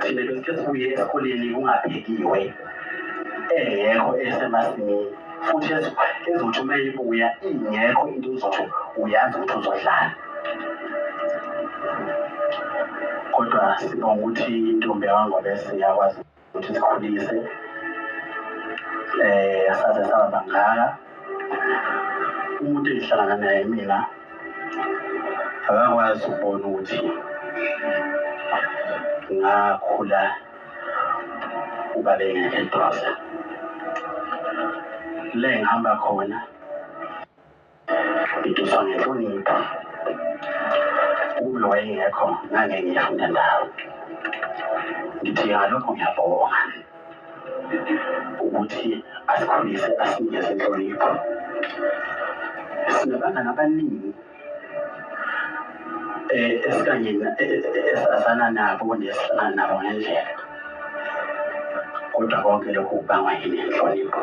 thina bese sibuye esikoleni kungaphekiwe engekho esemasimini futhi ezothi uma ibuya ingekho into uzothi uyazi ukuthi uzodlala kodwa sibonga ukuthi intombi yangobese yakwazi ukuthi sikhulise eh saze saba bangaka umuntu engihlangana naye mina akakwazi ukubona ukuthi ngakhula uba bengekho eduze le ngihamba khona Ngiduswa ngenhlonipho ulo wayengekho ngangeke ngiyafunda ndawo ngithi ngalokho ngiyabonga ukuthi asikhulise asinikeze inhlonipho sinabangani abaningi eh, esikanye eh, eh, esazana nabo nesihlala nabo ngendlela kodwa konke lokhu kubangwa yini inhlonipho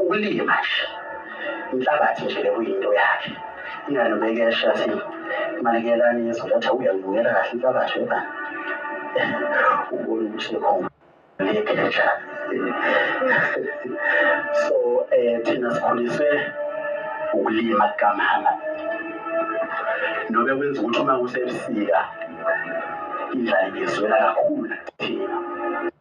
ukulima nje inhlabathi nje bekuyinto yakhe ingane bekesha athi manekelani yezoletha uyangibukela kahle inhlabathi yoba ubona ukuthi khona lekesha so eh thina sikhuliswe ukulima kukamama nobe kwenza ukuthi uma kusebusika indlala ngizwela kakhulu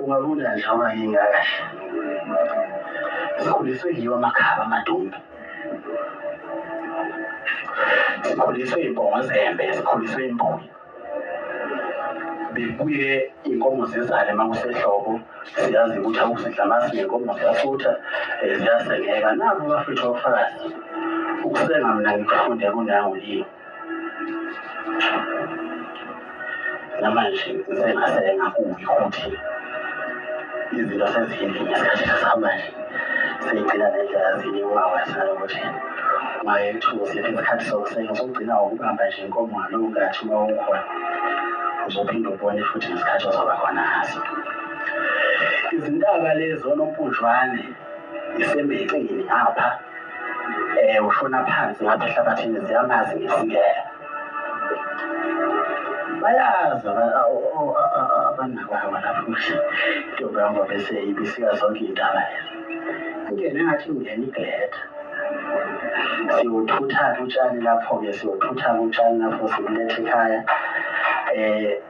ungabona nje amaningi akahle sikhuliswe yiwo amakhaba amadumbe sikhuliswe iy'nkomo zembe sikhuliswe imbuyi bebuye iy'nkomo zizale uma kusehlobo siyazi ukuthi akusidla amasi ney'nkomo ziyasutha um ziyasengeka nabo bafethu ofakazi ukusenga mna ngikufunde kunawe yini namanje sengase ngakubi ukuthi izinto sezihindile ngesikhathi samanje seyigcina nendlela zini ungawasana ukuthi mayethuka siphi isikhathi sokusenga sokugcina wokubamba nje inkomo ngalowo ngathi uma ukhona uzophinde ubone futhi ngesikhathi ozoba khona ngaso izintaba lezo nompunjwane isembexini apha um ushona phansi ngapha ehlabathini ziyamazi ngesingela bayazi abanakwawa lapho ukuthi intombi yam ngoba eseyibisika zonke iy'ndaba ingene ngathi ingena igleta siwuthutha-ke utshani lapho-ke siwuthutha-ke utshani lapho sibuletha ekhaya um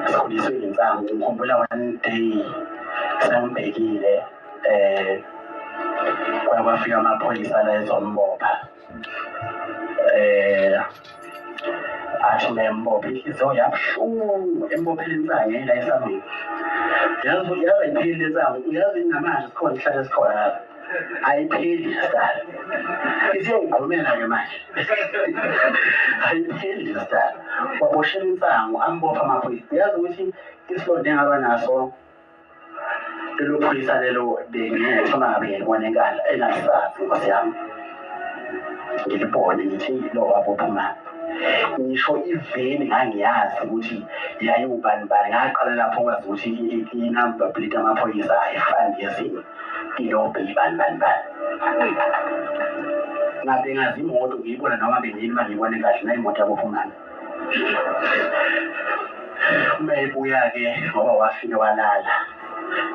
Ngikhuliswe ngensangu ngikhumbula one day sengibhekile eh kwaya kwafika amaphoyisa la ezombopha eh athi membophe inhliziyo yabuhlungu embophele insangu la esangweni yazi yazi iphile insangu yazi namanje sikhona ihlale sikhona ayipheli sidala isiyongigqumela ke manje ayipheli sidala waboshela insangu ambopha amaphoyisa uyazi ukuthi isilonda engaba naso lelo phoyisa lelo bengiyothoma ngabe ngilibona enkala enalisazi nkosi yami ngilibone ngithi lo wabopha imali ngisho iveni ngangiyazi ukuthi yayiwubani bani ngaqala lapho kwazi ukuthi inamba plate amaphoyisa ayifani yezinye Ilobe ibani bani bani. Ngabe ngazi imoto ngiyibona noma bengini uma ngibone kahle na imoto yabophumana. Uma ebuya-ke ngoba wafike walala.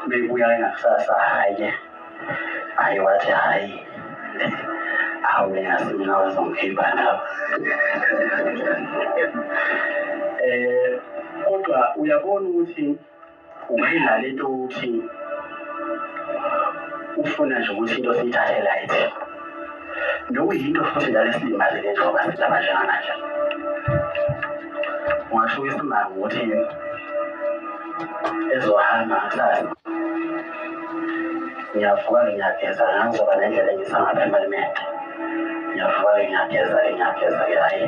Uma ebuya-ke ngakusasa hhayi-ke hhayi wathi hhayi hawu ngingazi mina wazongikhipha lapho. Eh kodwa uyabona ukuthi ungayidlala into ukuthi ufuna nje ukuthi into siyithathe light nokuyinto futhi njalo esilimazile njengoba sidaba njengamanje ungasho isimanga ukuthi ezohamba kusasa ngiyavuka ngiyageza ngangizoba nendlela engisangapha emalimente ngiyavuka ngiyageza ngiyageza ke hhayi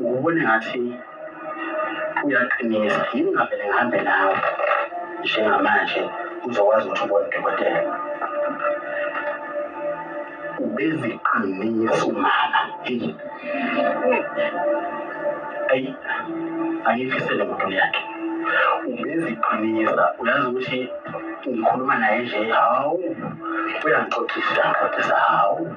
ngubone ngathi uyaqinisa yini ngavele ngihambe nawe njengamanje uzokwazi ukuthi ubone udokotela ubeziqinisa umama eyi ayi angiyifisele muntu yakhe ubeziqinisa uyazi ukuthi ngikhuluma naye nje hawu uyangixoxisa ngixoxisa hawu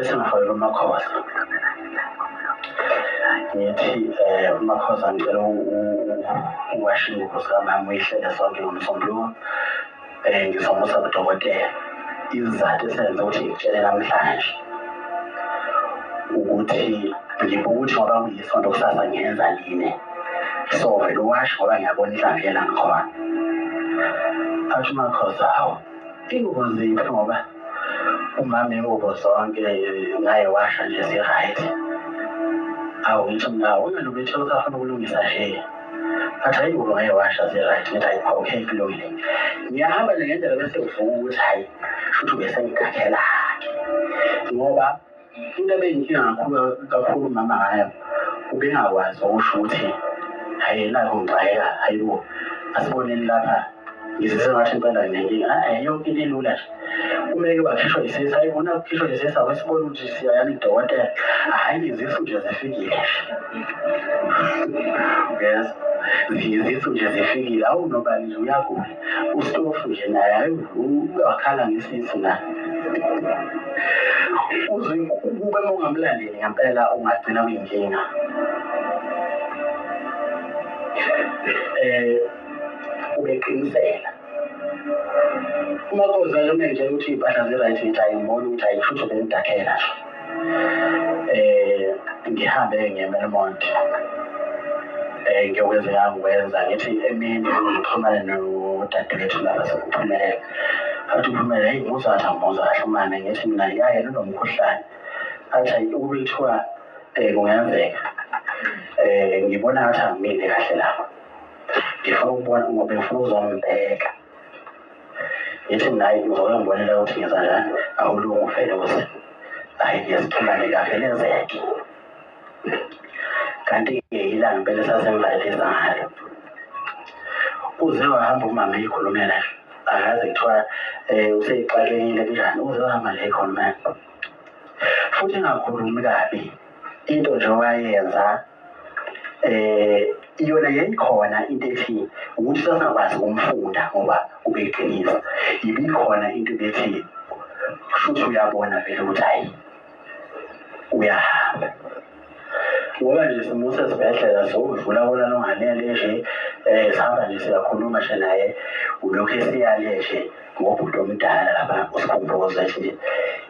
esingaholela umakhoza ngithi um umakhoza ngicela uwashe ingubo sikamama uyihlele sonke ngomsombuluko um ngizomusa kudokotela isizathu esenze ukuthi ngikutshele namhlanje ukuthi ngibuka ukuthi ngoba kuyisonto kusasa ngenza line so vele uwasho ngoba ngiyabona inhlanhlela ngikhona athi umakhoza hawu Ingubo ziphi ngoba umama ingubo zonke ngaye washa nje si-right awu ngithi mna wena bethu usafuna ukulungisa nje athi hayi ngoba ngaye washa si-right ngithi hayi okay kulungile ngiyahamba nje ngendlela bese uvuka ukuthi hayi shuthi ubesengikhakhela-ke ngoba Into ebeyinkinga kakhulu kakhulu umama ngayo ubengakwazi okusho ukuthi hhayi nakho ngixakeka hhayi bo asiboneni lapha ngizise ngathi impela nginenkinga hhayi yonke into ilula nje kumeke bakhishwa isisi hhayi bona kukhishwa isisi awesibona ukuthi siyayani idokotela hhayi ngizisu nje zifikile yes ngizisu nje zifikile awunobani nje uyagula ustofu nje naye hayi wakhala ngesisu na uze ukube ungamlandeli ngempela ungagcina kuyinkinga eh ubeqinisela uma kozalone nje ukuthi iy'mpahla zi-right ngithi ayingiboni ukuthi ayishutho bengidakhela nje eh ngihambe ngeMelmont eh ngiyokwenza ngangikwenza ngithi emini ngixhumane nodadewethu laba sekuphumelela athi uphumele heyi muzatha muza ahlumane ngithi mina yaye lunomkhuhlane athi hayi ukube kuthiwa um kungenzeka um ngibona ngathi angimile kahle lapho ngifuna ukubona ngoba ngifuna uzombheka ithi naye uzokangibonela ukuthi ngenza njani awulungu felozi hhayi ngiyasithulane kahle lenzeke kanti-ke yilanga impela esasemvalelisa ngalo uze wahamba umama eyikhulumela akaze kuthiwa um eh, useyixakekile kunjani uze wahamba nje eyikhulumela futhi ingakhulumi kabi into nje owayenza eh iyona yayikhona into ethi ukuthi sasingakwazi ukumfunda ngoba ubeyiqinisa ibikhona into ebethi kushuthi uyabona vele ukuthi hayi uyahamba ngoba nje simuse esibhedlela sowudlula bona longanele nje um sihamba nje siyakhuluma nje naye ulokhu esiyale nje ngobhuti omdala lapha usikhumbuze nje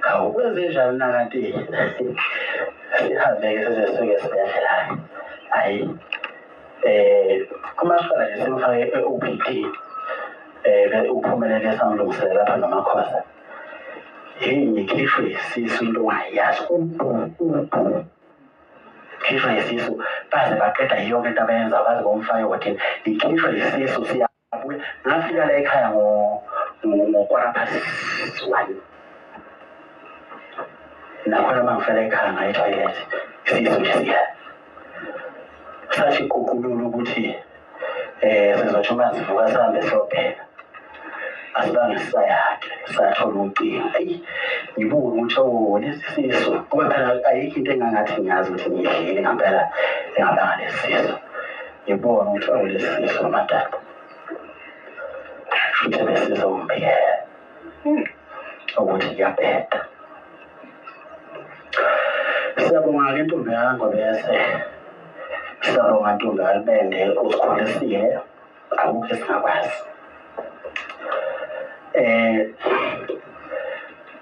Hawu kwenzenjani na kanti sihambe-ke sizesuke esibhedlela hhayi um eh, kumashwala nje simfake e-o p t um eh, uphumelele samlungisele lapha nomakhosa heyi ngikhishwe isisu into ungayazi ubhu ubhu khishwa isisu baze baqeda yonke into abayenza baze bomfake wathini ngikhishwa isisu siya ngafika la ekhaya ngokwara past one nakhona uma ngifela ekhaya ngaye toilet isisu nje siya sathi ququlula ukuthi um sizotsho uma sivuka sihambe siyobheka asibange sisayakhe sathola ucingo eyi ngibuke ukuthi owo lesi sisu kube phela ayikho into engangathi ngiyazi ukuthi ngiyidlile ngampela engabanga lesi sisu Ngibonga ukuthi awulesiso amadala. Futhi besizomphela. Hmm. Ukuthi ngiyabheda. Siyabonga-ke ntombi yango bese. Siyabonga ntombi yami bende usikhulisile. Akukho esingakwazi. eh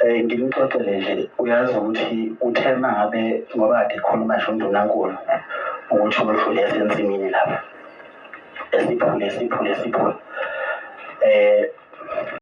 eh ngimxoxele nje uyazi ukuthi uthe mangabe ngoba kade khuluma nje undunankulu ukuthi umhlule esensimini lapha esiphule siphule siphule eh